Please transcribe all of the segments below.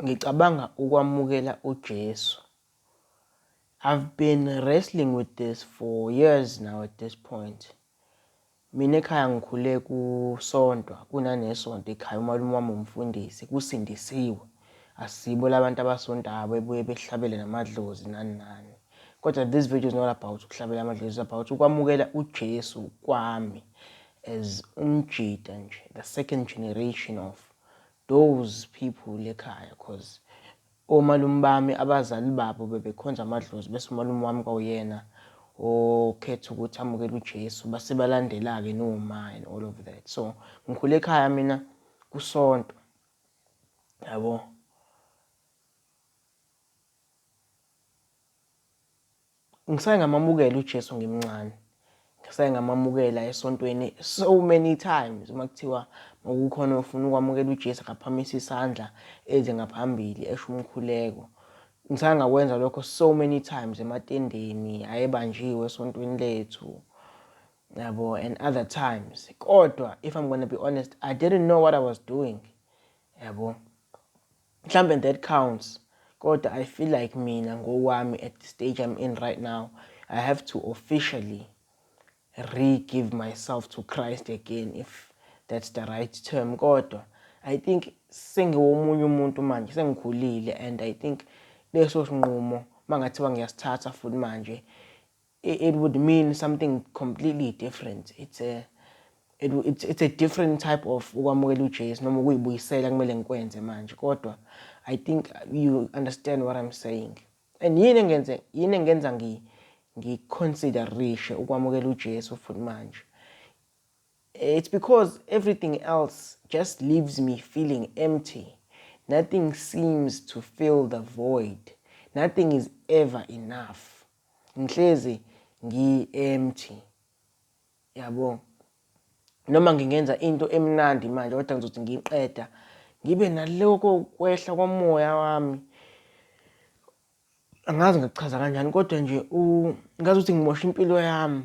Ngicabanga ukwamukela uJesu. I've been wrestling with this for years now at this point. Mina ekhaya ngikhule kusontwa kunanesonto ekhaya umalume wami umfundisi kusindisiwe. Asibo labantu abasontayo bebuye behlabele namadlozi nani nani. Kodwa this video is not about ukuhlabela amadlozi, it's about ukwamukela uJesu kwami as umjita nje, the second generation of those people lekhaya cause omalume bami abazali babo bebekhonza amadlozi bese umalume wami kwawuyena okhetha ukuthi amukele uJesu base balandela-ke noma and all of that so ngikhule ekhaya mina kusonto yabo Ngisaye ngamamukela uJesu ngimncane. Ngisaye ngamamukela esontweni so many times uma kuthiwa makukhona ofuna ukwamukela uJesu akaphamise isandla eze ngaphambili esho umkhuleko. Ngisaye ngakwenza lokho so many times ematendeni ayebanjiwe esontweni lethu yabo and other times kodwa if i'm gonna be honest i didn't know what i was doing yabo Mhlambe and that counts kodwa I feel like mina ngowami at the stage I'm in right now I have to officially re-give myself to Christ again if that's the right term kodwa I think sengiwomunye umuntu manje sengikhulile and I think leso sinqumo mangathiwa ngiyasithatha futhi manje it would mean something completely different it's a it, it's, it's a different type of ukwamukela uJesu noma ukuyibuyisela kumele ngikwenze manje kodwa i think you understand what i'm saying and yini engenze yini engenza ngi ngiconsiderishe ukwamukela uJesu futhi manje it's because everything else just leaves me feeling empty nothing seems to fill the void nothing is ever enough ngihlezi ngi empty yabo noma ngingenza into emnandi manje kodwa ngizothi ngiqeda ngibe naloko kwehla komoya wami angazi ngikuchaza kanjani kodwa nje ngazi ukuthi ngimosha impilo yami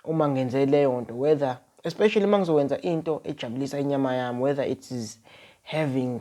uma ngenze leyo nto whether especially uma ngizokwenza into ejabulisa inyama yami whether it is having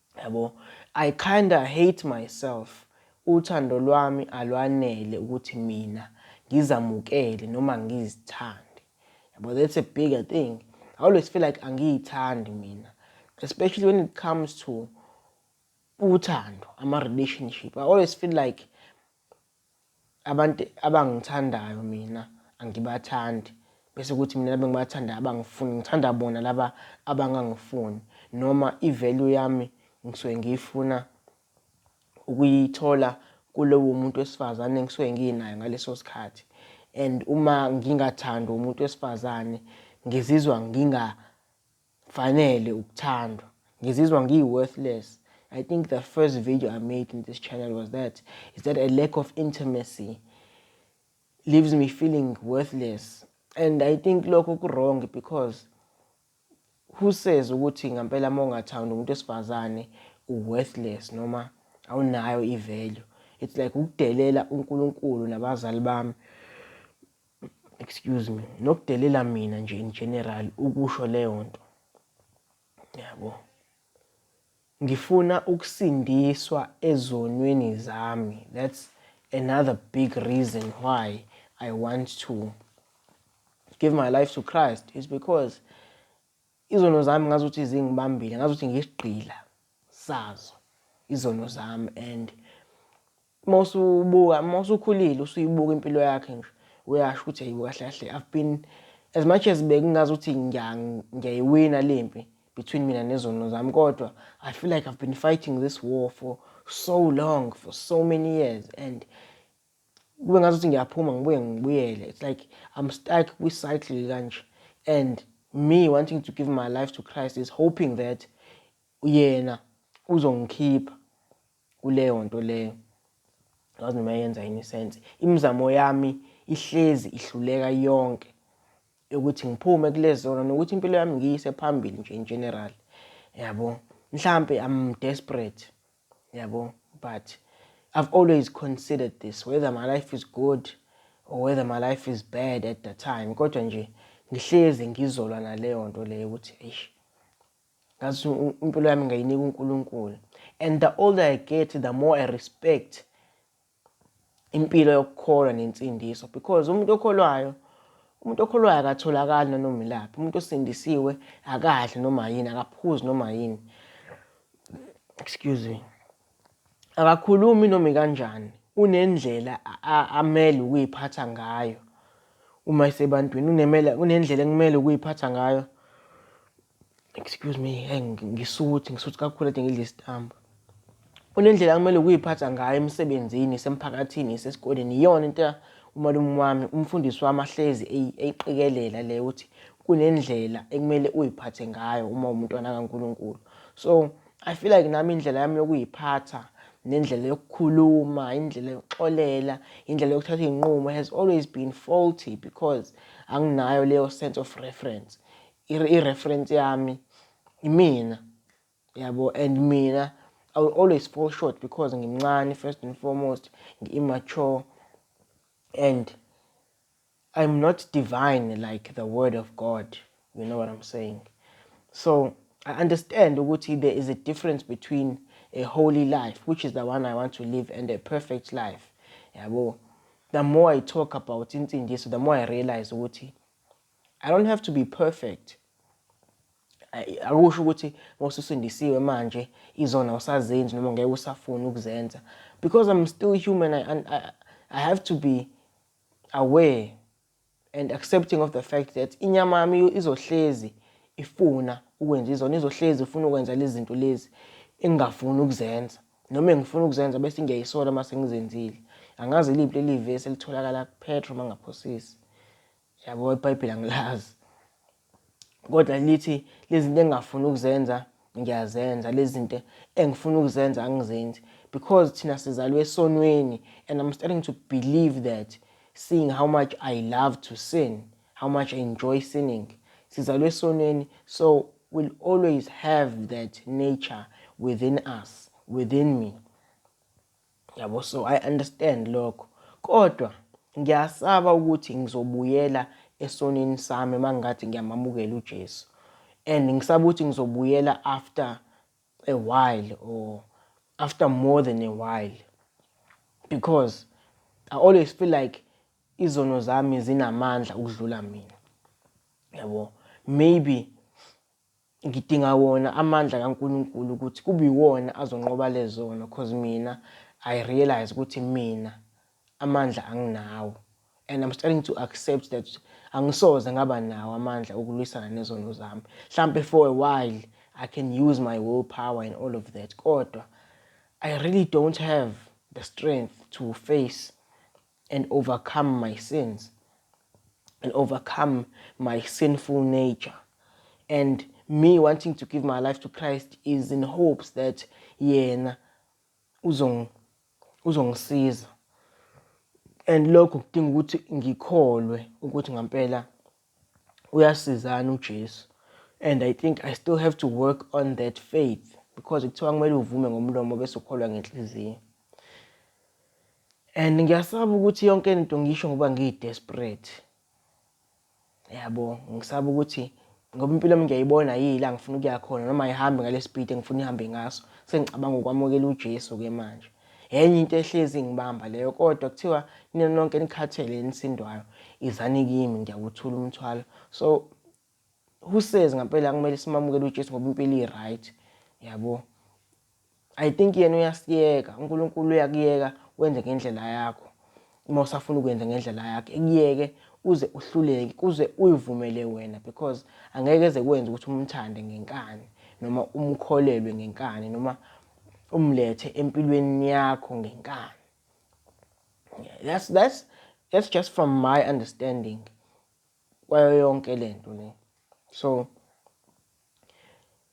Yabo I kinda hate myself uthando lwami alwanele ukuthi mina ngizamukele noma ngizithande. Yabo that's a bigger thing. I always feel like angiyithandi mina especially when it comes to uthando ama relationship. I always feel like Abantu abangithandayo mina angibathandi, bese kuthi mina laba engibathandayo abangifuni ngithanda bona laba abangangifuni noma i-value yami ngisuke ngiyifuna ukuyithola kulowo muntu wesifazane engisuke nginayo ngaleso sikhathi and uma ngingathandwa umuntu wesifazane ngizizwa Fanele ukuthandwa. Ngizizwa ngiyi worthless. I think the first video I made in this channel was that is that a lack of intimacy leaves me feeling worthless and I think lokho ku wrong because who says ukuthi ngempela uma ungathandi umuntu esifazane u worthless noma awunayo i value it's like ukudelela uNkulunkulu nabazali bami excuse me nokudelela mina nje in general ukusho leyo nto yabo ngifuna ukusindiswa ezonweni zami that's another big reason why i want to give my life to christ is because izono zami ngazi ukuthi zingibambile ngazi ukuthi ngiyisigqila sazo izono zami and Uma usubuka, uma usukhulile usuyibuka impilo yakhe nje uyasho ukuthi hayibo kahle kahle I've been as much as bekungazi ukuthi ngiyayiwina le mpi between mina nezono zami kodwa I feel like I've been fighting this war for so long for so many years and kube ngazi ukuthi ngiyaphuma ngibuye ngibuyele it's like I'm stuck kwi-cycle kanje and me wanting to give my life to Christ is hoping that yena uzongikhipha kuleyo nto leyo ngazi noma yenza yini sense imizamo yami ihlezi ihluleka yonke yokuthi ngiphume kulezona nokuthi impilo yami ngiyise phambili nje in general yabo mhlampe i'm desperate yabo but i've always considered this whether my life is good or whether my life is bad at the time kodwa nje ngihlezi ngizolwa naleyo nto leyo ukuthi eish ngathi impilo yami ngayinika uNkulunkulu and the older I get the more I respect impilo yokukholwa nensindiso because umuntu okholwayo umuntu okholwayo akatholakali nanoma ilaphi umuntu osindisiwe akadli noma yini akaphuzi noma yini excuse me akakhulumi noma kanjani unendlela amele ukuyiphatha ngayo uma isebantwini unemela unendlela ekumele ukuyiphatha ngayo excuse me hey ngisuthi ngisuthi kakhulu ade ngidla isitambu unendlela kumele ukuyiphatha ngayo emsebenzini semphakathini sesikoleni iyona into umalume wami umfundisi wami ahlezi eyiqikelela le ukuthi kunendlela ekumele uyiphathe ngayo uma umntwana kaNkuluNkulu so i feel like nami indlela yami yokuyiphatha nendlela yokukhuluma indlela yokuxolela indlela yokuthatha iy'nqumo has always been faulty because anginayo leyo sense of reference i-reference yami imina yabo and mina I will always fall short because ngimncane first and foremost ngi-immature and I'm not divine like the word of God you know what I'm saying so I understand ukuthi there is a difference between a holy life which is the one I want to live and a perfect life yabo the more I talk about insindiso the more I realize ukuthi I don't have to be perfect. Akusho ukuthi ngosusindisiwe manje izona usazenzi noma ngeke usafuni ukuzenza because I'm still human I, I, I have to be aware and accepting of the fact that inyama yami izohlezi ifuna ukwenza izona izohlezi ifuna ukwenza lezi zinto lezi engingafuni ukuzenza noma engifuna ukuzenza bese ngiyayisola uma sengizenzile angazi iliphi leli vesi elitholakala kuphetro uma ngaphosisi Yabo iBhayibheli angilazi. Kodwa lithi lezinto engingafuni ukuzenza ngiyazenza, lezinto engifuna ukuzenza angizenzi because thina sizalwe esonweni and I'm starting to believe that seeing how much I love to sin, how much I enjoy sinning. Sizalwe esonweni so we'll always have that nature within us, within me. Yabo so I understand lokho. Kodwa ngiyasaba ukuthi ngizobuyela esonini sami mangathi ngiyamamukela uJesu. And ngisaba ukuthi ngizobuyela after a while or after more than a while. Because I always feel like izono zami zinamandla ukudlula mina. Yabo. Maybe Ngidinga wona amandla kaNkulunkulu ukuthi kube iwona azonqoba lezono cause mina I realise ukuthi mina amandla anginawo and I'm starting to accept that angisoze ngaba nawo amandla okulwisana nezono zami. Hlampe for a while I can use my will power and all of that kodwa I really don't have the strength to face and overcome my sins and overcome my sinful nature and me wanting to give my life to Christ is in hopes that yena uzong uzongisiza and lokho kudinga ukuthi ngikholwe ukuthi ngampela uyasizana uJesu and I think I still have to work on that faith because kuthiwa kumele uvume ngomlomo bese ukholwa ngenhliziyo and ngiyasaba ukuthi yonke into ngisho ngoba ngiyidesperate yabo ngisaba ukuthi ngoba impilo yami ngiyayibona yila ngifuna ukuya khona noma ihambe ngalesipidi engifuna ihambe ngaso sengicabanga ukwamukela uJesu ke manje Enye into ehlezi ingibamba leyo kodwa kuthiwa nina nonke nikhathele enisindwayo izani kimi ngiyawuthula umthwalo. So who says ngampela kumele simamukele uJesu ngoba impilo i-right yabo. I think yena uyasiyeka uNkulunkulu uyakuyeka wenze ngendlela yakho. Uma usafuna ukwenza ngendlela yakhe ekuyeke uze uhluleke kuze uyivumele wena because angeke eze kwenza ukuthi umthande ngenkani noma umkholelwe ngenkani noma umlethe empilweni yakho ngenkani that's that's that's just from my understanding kwayo yonke lento le so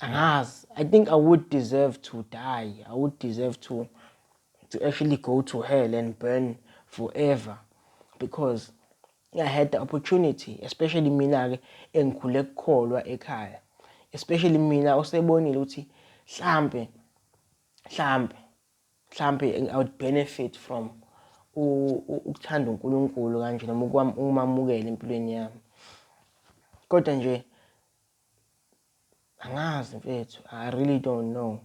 Angazi. I think I would deserve to die. I would deserve to to actually go to hell and burn forever because I had the opportunity especially mina ke engikhule kukholwa ekhaya especially mina osebonile ukuthi mhlambe mhlambe mhlambe I would benefit from ukuthanda uNkulunkulu kanje noma ukumamukela empilweni yami kodwa nje angazi mfethu i really don't know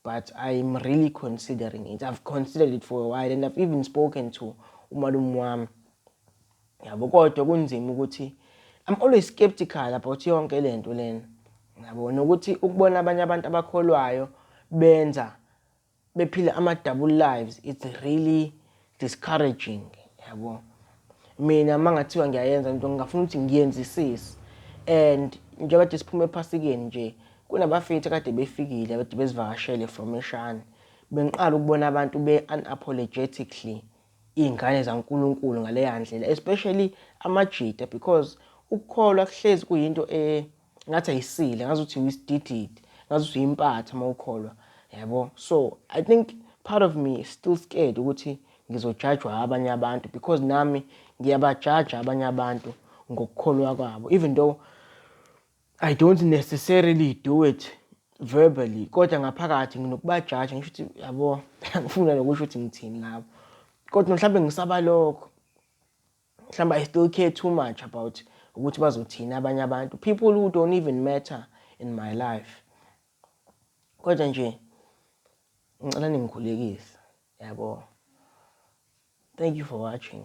but i'm really considering it i've considered it for a while and i've even spoken to umalume wami yabo kodwa kunzima ukuthi i'm always skeptical about yonke le nto lena yabo nokuthi ukubona abanye abantu abakholwayo benza bephila ama double lives it's really discouraging yabo mina mangathiwa ngiyayenza into ngingafuna ukuthi ngiyenzisise and njengoba kade siphuma ephasikeni nje kunabafethu kade befikile kade bezivakashele from eshane bengiqala ukubona abantu be-unapologetically iy'ngane zankulunkulu ngaleya ndlela especially amajita because ukukholwa kuhlezi kuyinto e-, ngathi ayisile ngazi ukuthi uyisidididi ngazi ukuthi uyimpatha uma ukholwa yabo so i think part of me is still scared ukuthi ngizojajwa abanye abantu because nami ngiyabajaja abanye abantu ngokukholwa kwabo even though i don't necessarily do it verbally kodwa ngaphakathi nginokubajaja ngisho ukuthi yabo angifuna nokusho ukuthi ngithini ngabo kodwa mhlawumbe ngisaba lokho Mhlawumbe I still care too much about ukuthi bazothini abanye abantu. People who don't even matter in my life. Kodwa nje ngicela ningikhulekise. Yabo. Thank you for watching.